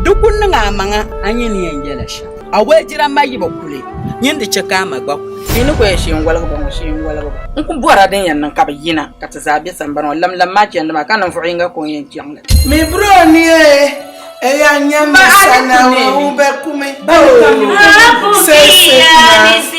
Di ku niŋ a maŋa a nyin ni yɛn yɛla shɛm. A woli jiramba yi bi kuli nyin di chɛ ka a ma gba kuli. Yi ni kɔya shee n-woligi ba ŋɔ, shee n-woligi ba. N ku bɔri a din yɛn niŋ ka bɛ yina ka ti zaa be sambani ŋɔ lamlam maa chandi maa, ka ninvuɣ yiŋga ka o ni yɛn chaŋ li. Mi biri o ni e e ya nyam mi sanaawuni ŋun be kumi. Bɛ ni ka mi mi sɛɛsɛɛ naa.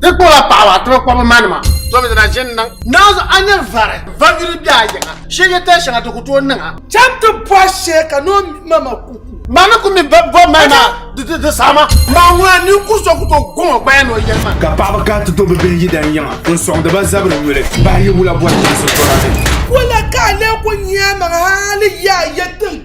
Ti kpɔla paɣaba ti bi kpɔbi ma nima. Tɔbi dina ʒini niŋ. Naanzu a nyɛ vari vari yuli bɛ a yiŋa shee yɛ tali shɛŋa ti ku tooi niŋa. Cham ti bɔhi shee ka noo ma ma ku ku. Ma ni ku mi bɛ bɔbi ma maa di di saama. Ma ŋuna ninkuri so ku tooi gɔŋ o gbaya ni o yɛli ma. Ka paɣaba kana ti do bɛ bihi yidana yiŋa n sɔŋdi ba zabiri nyuli bahi yi wula bɔri chinsi tɔra ni. Wala ka a lee ku nya a maŋa hali yi a yɛn tin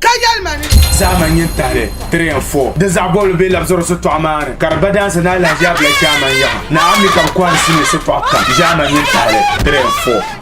Ka yɛli ma ni. Zahama n yɛn tahili 3 and 4 din zaɣ bɔbili bee labisiri sitɔɣu maa ni ka di ba daansi ni alahiziya bila shɛhima n yaha ni a mi ka bi kɔhiri sinii sitɔɣu kam. Zahama n yɛn tahili 3 and 4.